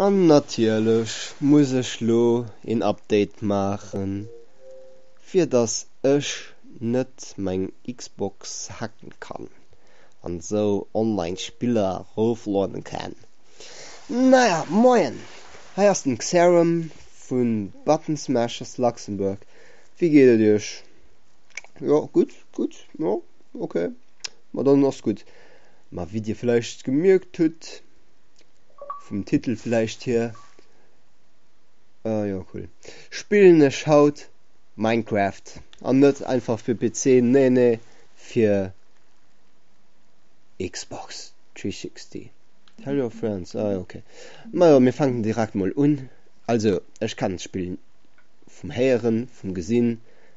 An natierlech muss ech lo een Update maachen, fir dass ech net meng Xbox hacken kann an esou online Spiller eroofloaden kann. Naja, moien, hei ass den Xarum vun Button Smashers Luxembourg, wéi geet et iech? Jo, gutt. Gutt, jo, ok. Ma dann ass gutt. Ma wéi Dir vläicht gemierkt hutt, vum Titel vläicht hier, ah jo, cool, spillen ech haut Minecraft. An net einfach fir PC, nee, nee, fir Xbox 360. Tell your friends, ah jo, ok. Ma jo, mir fänken direkt mol un. Also, ech kennt d'Spill vum Héieren, vum Gesinn.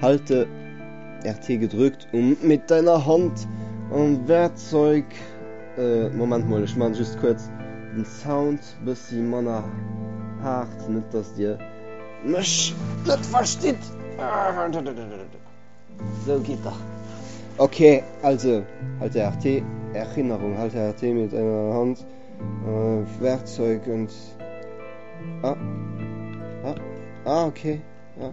Halt de RT gedrückt um mit deiner Hand am Werkzeug. Moment mol, ech man just kuerz den Sound bessi manner haart, net dass dir mech net verstitt. Sou geet dach. Ok, also halt de RT, Erinnerung, halt de RT mit deiner Hand am Werkzeug und ah ah ah ok ah.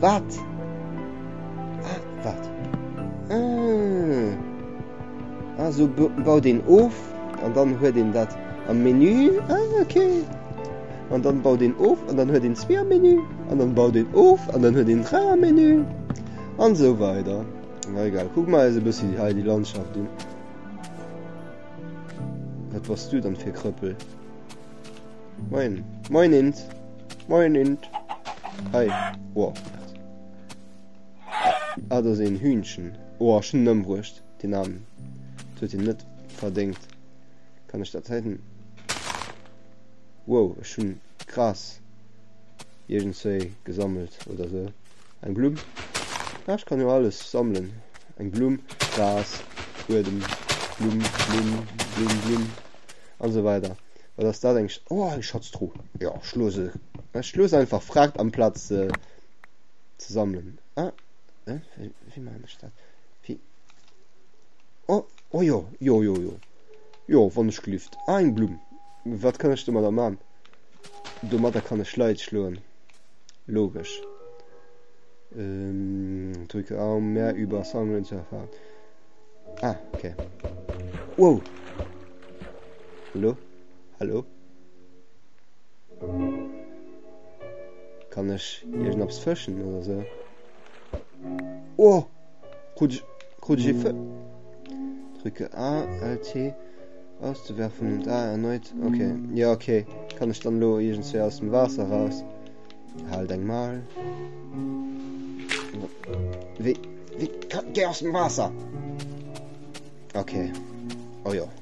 Wat? Ah, wat? Ah. Ah, so baut een of an dann huet een dat am Menü. Ah, okay. An dann baut een of an dann huet een zwee am Menü. An dann baut een of an dann huet een dräi am Menü. An so weider. Na egal, kuck mal eise bëssi hei déi Landschaft un. Wat bass du dann fir Krëppel? Moin. Moinins. Moinint. Hei. Oa. Ah, do sinn Hühnchen. Oa, ech hunn ëmbruecht, den Armen. Dat huet hien net verdéngt. Kann ech dat heiten? Wow, ech hunn Gras iergendswéi gesammelt oder sou. Eng Blumm. Ah, ech kann jo alles sammelen. Eng Blumm, Gras, Buedem, Blumm, Blumm, Blumm, Blumm an sou weider. Wat ass dat eng Sch Oh, eng Schatztru. Jo, ech looss se. Ech looss einfach Fragt am Platz se ze sammelen. Ah, äh, wéi, wéi man ech dat? Wéi? Oh, oh jo, jo, jo, jo. Jo, wann ech gelift. Ah, eng Blumm. Wat kann ech do mat der man? Do mat der kann ech Leit schloen. Logesch. Ähm, drücke A, um mehr über Sammeln zu erfahren. Ah, okay. Wow! Hallo? Hallo? Kann ech iergendaps fëschen oder so? Oh! Krut ech, krut ech e Fë... Drücke A, LT, auszuwerfen und A erneut. Okay, ja, okay. Kann ech dann lo iergendswéi aus dem Waasser raus? Halt eng mal. Wie, wie, geh aus dem Waasser! Okay. Oh ja.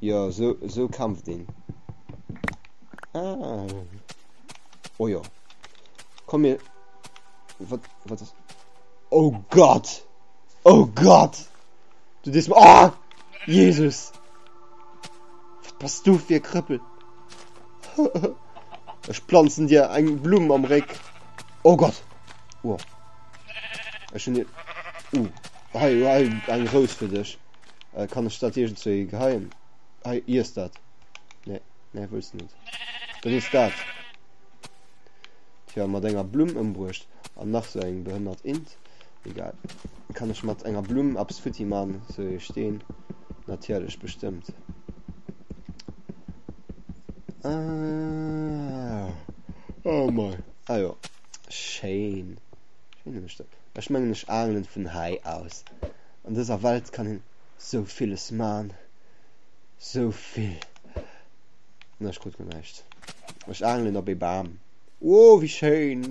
Jo, esou kämpft een. Ah. Oh jo. Komm mir. Wat wat ass. Oh Gott! Oh Gott! Du dis. Oh! Jesus! Wat bass du fir Krëppel? Ech planzen dir eng Blumm am Réck. Oh Gott! Oh. Ech hun dir. Uh. Hei, hu hei eng Rous fir dech. Kann ech dat iergendzwouhi geheien? Hei, iess dat. Nee, nee, wëlls de net. Dann iess dat. Tja, mat enger Blumm ëmbruecht. An nach sou eng behënnert Int. Egal. Kann ech mat enger Blumm eppes futti man? Sou ee Steen? Natierlech, bestëmmt. Ah, oh mei. Ah jo, schéin. Schéine Stéck. Ech mengen ech angelen vun hei aus. An dëser Welt kann een sou villes maan, sou vill. Nee ech krut guer näischt. Ech angelen op ee Baam. Wooh wéi schéin.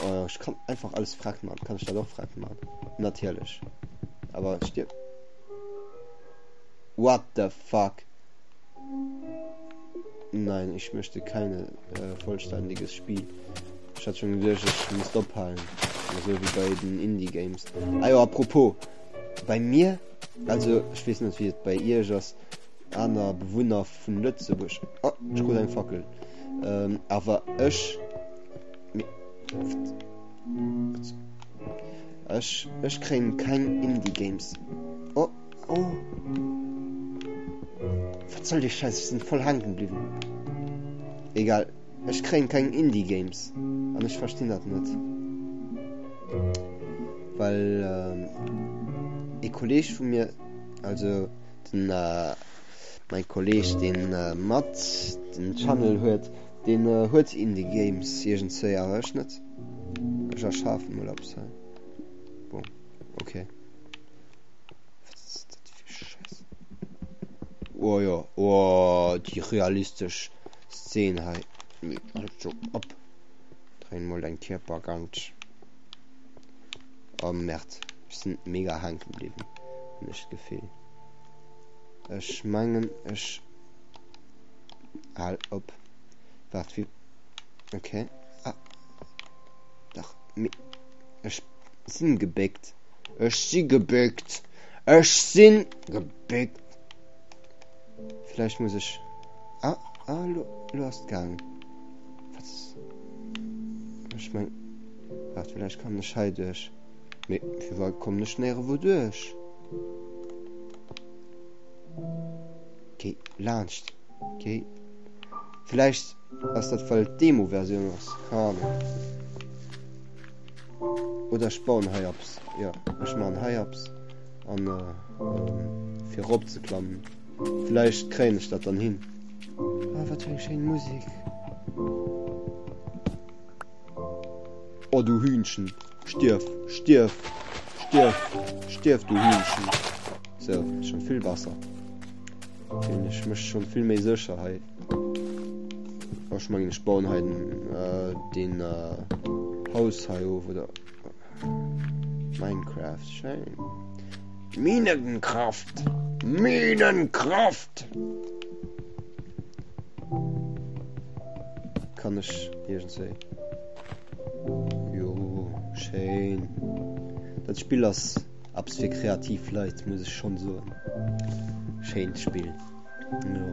Oh ech kann einfach alles frett maan. Kann ech dat och frett maan? Natierlech. Awer et stierft. What the fuck. Nein, ich möchte keine äh, vollständiges Spiel. Ech hat schon geduecht ech misst ophalen, esou wéi bei den Indie Games. Ah jo, apropos, bei mir, also ech wees net wéi et bei iech ass, aner Bewunner vun Lëtzebuerg, oh ech krut eng Fackel, ähm awer ech, mee pfft, ech ech kréien keng Indie Games, oh oh, wat soll dee Schäiss, ech sin voll haanken bliwwen, egal. Ech kréien keng Indie Games an ech verstinn dat net well ee Kolleg vu mir also den mäin Kolleg deen mat den Channel huet deen huet Indie Games iergendzwéi awer ech net ech erschafen mol eppes hei bon ok wat ass dat fir Schäss oh jo oh déi realistesch. Szene hei leeft alt scho ab. Dréin mol dein Kierper ganz. Oh Merd, ech sinn mega hanken bliwen, hun ech d'Gefill. Ech mengen ech hal op. Waart wie okay. Ah. Dach mi ech sinn gebéckt. Ech si gebéckt. Ech sinn gebéckt. Vläicht muss ech. Ah, ah lo, lo ass et gaangen. Wat? Ech meng. Waart, vläicht kann ech hei duerch. Mee firwat kommen ech néierewou duerch? Géi laanscht. Géi. Vläicht ass dat well d'Demo-Versioun ass. Keine Ahnung. Oder ech bauen hei abs. Ja, ech man hei abs. An fir erop ze klammen. Villäicht kréien ech dat dann hin. Oh, wat fir eng schéin Musik. Oh, du Hühnchen, stierf, stierf, stierf, stierf, du Hühnchen. So, schon vill besser. Feel ech mech schon vill méi sécher hei. Oh, ich mengen, ich bauen hei den, äh, den, äh, Haus hei of, oder? Minecraft schéin. Minenkraft! Minenkraft! Kann ech irgendwéi. Jo, schéin. Dat Spiel ass abs fir kreativ Leit, muss ech schon soen. Schéint Spiel. Jo.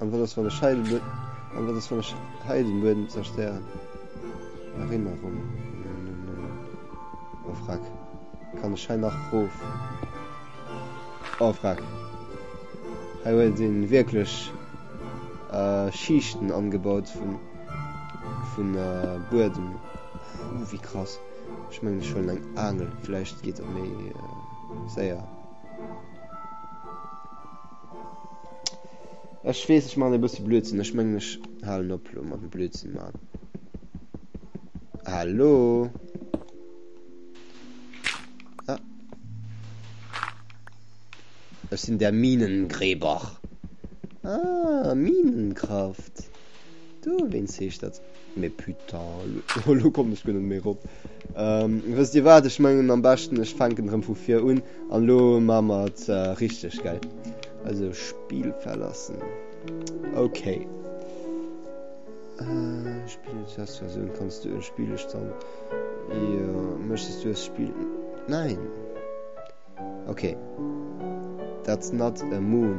An wat ass wann ech hei den Buedem zerstéieren? Erinnerung Oh frack, kann ech hei nach roof? Oh frack, hei huet een wierklech Schiichten angebaut vun Buedem. Huu wéi krass, ech mengen ech huelen eng Aangel, vläicht geet dat méi séier. Ech weess, ech maachen e bësse Blödsinn. Ech mengen, ech halen op elo mam Blödsinn maachen. Hallo? Ah. Ech sinn der Minengräber. Ah, Minenkraft. Du, wéins heescht dat? Mais putain, elo kommt ech guer net méi rop. Wësst Dir wat, ech mengen am beschten ech fänken rëm vu vir un an elo maa mer et richteg, gell? Also Spiel verlassen. Ok. Spiel eng Testversioun, kanns du e Spiel ech dann? Jo, méchtes du es Spiel? Nein. Ok. That's not a moon.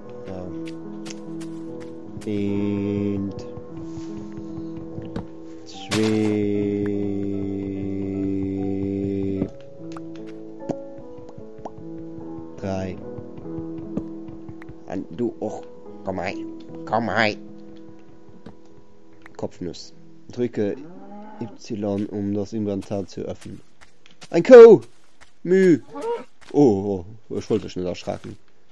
Eent, zwee, dräi. An du och. Komm hei. Komm hei. Kopfnuss. Drücke Y, um das Inventar zu öffnen. Ein Kou! Mü! Oh, oh, ich wollte dich nicht erschrecken.